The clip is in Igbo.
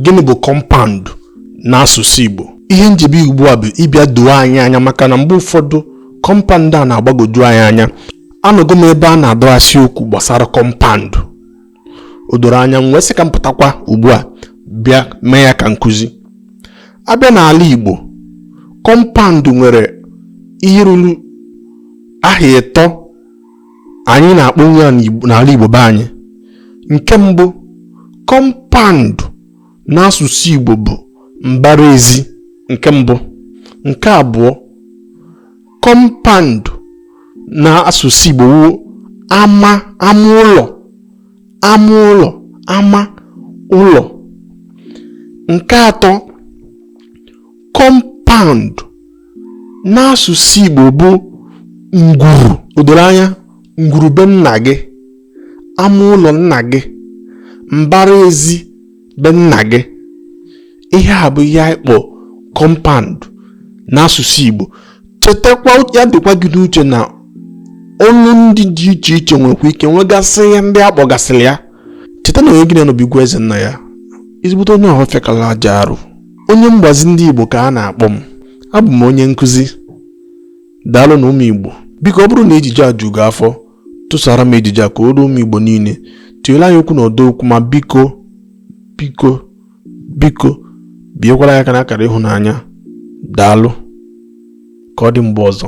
gịnị bụ compound n'asụsụ Igbo ihe m ji bịa ugbu a bụ ịbịa doo anyị anya maka na mgbe ụfọdụ compound a na-agbagoju anyị anya anọgo m ebe a na-adọgasị okwu gbasara compound o doro anya m wee sị ka m pụtakwa ugbu a bịa mee ya ka nkụzi a bịa n'ala Igbo compound nwere ihe ruru aha ịtọ anyị na-akpọ ya n'ala Igbo be anyị nke mbụ compound n'asụsụ Igbo bụ mbara ezi nke mbụ nke abụọ compound n'asụsụ Igbo bụ ama ama ụlọ ama ụlọ ama ụlọ nke atọ compound n'asụsụ Igbo bụ ngwuru o doro anya ngwuru be nna gị ama ụlọ nna gị mbara ezi be nna gị ihe a bụ ihe anyị kpọ compound n'asụsụ Igbo chetakwa ya dịkwa gị n'uche na olu ndị dị iche iche nwekwa ike nwegasị ihe ndị a kpọgasịrị ya cheta na onye gị na-anọbigwa eze nna ya ezigbote onye ọhụrụ fekala aja arụ Onye mgbazi ndị Igbo ka a na-akpọ m. Abụ m onye nkụzi. Daalụ nụ ụmụ Igbo. Biko ọ bụrụ na ejije a ju gị afọ, tụsaara m ejije a ka o ruo ụmụ Igbo niile. Tinyere anyị okwu n'ọdọ okwu ma biko biko biko biekwara ya aka n'akara ịhụnanya. Daalụ. Ka ọ dị mgbe ọzọ.